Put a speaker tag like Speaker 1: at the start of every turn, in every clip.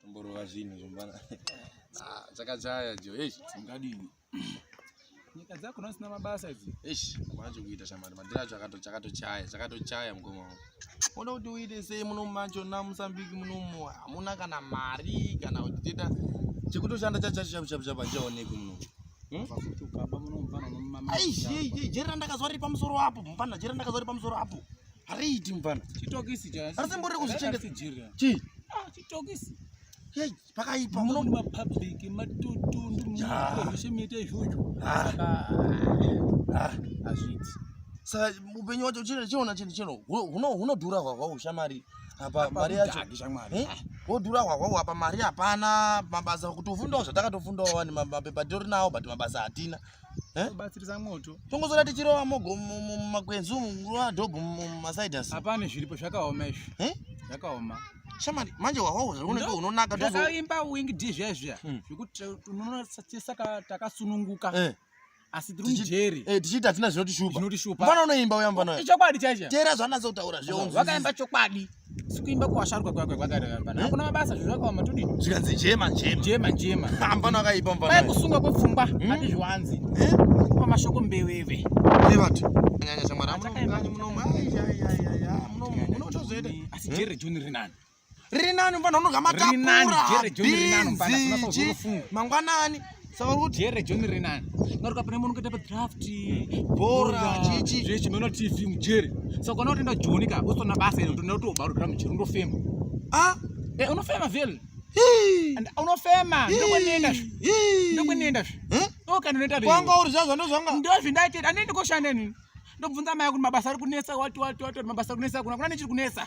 Speaker 1: Tomborova zvinhu zvombana. Ah, chakachaya jo. Eish, ungadini? Nyika dzako nasina mabasa idzi. Eish, kwacho kuita shamari. Madira acho akato chakatochaya, chakatochaya mukoma wangu. Unoda kuti uite sei muno macho na Mozambique muno mu hamuna kana mari kana kuti teta chekutoshanda chacho chacho chacho chacho chaoneki muno. Hmm? Aish, jera ndakazwa ripa musoro apo, mpana jera ndakazwa ripa musoro apo. Hariiti mfana. Chitokisi cha. Asi mbori kuzvichengeta jira. Chi. Ah, chitokisi. Hey, pakaipa muno ma public matutu ndimuzveshe miite izvozvo. Ah. Ah, azviti. Sa upenyu wacho chino chiona chino chino. Huno hunodhura hwahwa ushamari. Apa mari yacho. Eh? Wodhura hwahwa apa mari hapana mabasa kutofundawo zvatakatofundawo wani mapepa tori nawo but mabasa hatina. Eh? batsirisa moto tongozora tichirova mogo mumakwenzi umu nguva dhobho mumasaidas hapane zviripo zvakaoma izvi eh? zvakaoma shamani manje wawawo zvaunenge unonaka zvakaimba wing d zviya zviya hmm. zvekuti unonosaka takasununguka eh. asi tiri mujeri tichiita hatina zvinotishupa zvinotishupa mfana unoimba uya mfana ichokwadi chaicho teera zvaanatsa kutaura zvio wakaimba chokwadi sikuimba kuwasharukwa kwakwe kwakarevamba hmm? hakuna mabasa zvinhu zvakaoma todi zvikanzi jema jema jema jema hambano akaipa mvana pai kusunga kwepfungwa hmm? ati zviwanzi eh? kupa mashoko mbeweve nevati anyanya shamwari amunokanyi munomu munotozoita asi hmm? jere joni rinani rinani mvana unoga matakura bizi mangwanani saka uri kuti here john renani ngati ukapinda munhu kuita padraft bhora chichi zvechi meno tv mujeri saka kana utoenda joni ka usitona basa ino utoenda kuti ubaurira mujeri unofema a ah! e eh, unofema vhele unofema ndokwanienda zve ndokwanienda zve okana unoita kwanga uri zvazvo ndozvanga ndozvindaitira andiende koshanda nini ndobvunza maya kuti mabasa ari kunetsa wati wati wati mabasa ari kunetsa kuna kuna nechiri kunetsa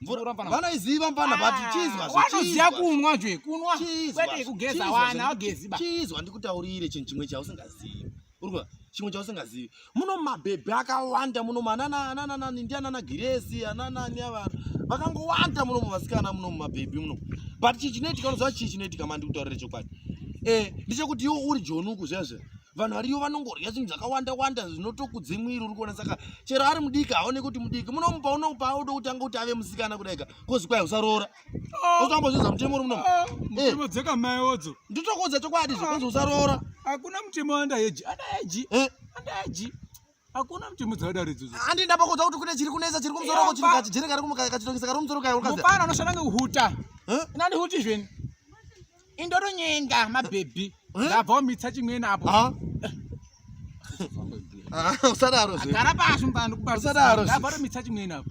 Speaker 1: mvura mvana vanoiziva mvana but ah, chizwa zve vanoziva kunwa zve kunwa kwete kugeza wana agezi ba chizwa ndikutaurire chinhu chimwe chausingazivi urikuva chimwe chausingazivi muno mabhebhi akawanda muno manana anana nani ndi anana girezi anana ni ava vakangowanda muno muvasikana muno mumabhebhi muno but chii chinoitika unoziva chii chinoitika mandi kutaurire chokwadi eh ndichekuti iwo uri jonuku zvezve vanhu variyo vanongorya zvinhu zvakawanda wanda zvinotokudze mwiri uri kuona saka chero ari mudiki haone kuti mudiki munomupa unomupa auda kutanga kuti ave musikana kudaika kozi kwai usaroora ah. usambozvinza mutemo uri munomu ah, eh. dzeka mai odzo nditokuudza chokwadi zvekunzi ah. usaroora hakuna mutemo andaeji andaeji eh. andaeji Hakuna kuti mudzada ridzo. Handi ndapa kuda kuti kune chiri kunesa chiri kumzoro ko chiri kachi jere kari kumuka kachi tongisa kari kumzoro kai ukaza. Mupana unoshanda ngehuta. Eh? Inandi huti zveni. Indoro nyenga ma baby. Eh? Ndabva umitsa chimweni apo. Ha? Ah, usadaro zve. Gara pasi mbando kubasa. Usadaro. Ndabva umitsa chimweni apo.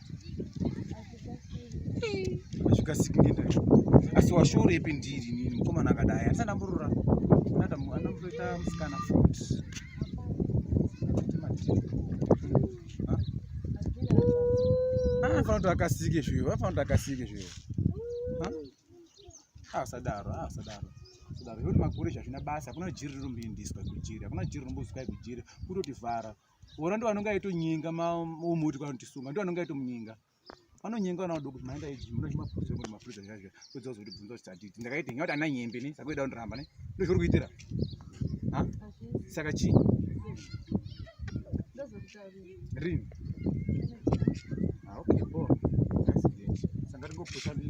Speaker 2: hazvikasiki ngenda asi washore ipi ndiri nini mukomana akadai atisandamburura anamboita musikana fut anofana kuti akasike zviyo anofana kuti akasike zviyo asadaro asadaro asadaro yoti makure zvazvina basa hakuna jiri rinomboindiswa kujiri hakuna jiri rinombozikai kujiri kutotivhara Wona ndo anonga ito nyinga ma umuti kwa kuti sunga ndo anonga ito munyinga. Ano nyinga na udoku maenda iji muno chima pfuzo muno mafriza zvaje. Kudzo zoti bvunzo stati. Ndakaita nyota ana nyembe ne sako ida undiramba ne. Ndo zviri kuitira. Ha? Saka chi? Ndo zviri kuitira. Rin. Ah okay bo. Sanga ringo pfusa ndi.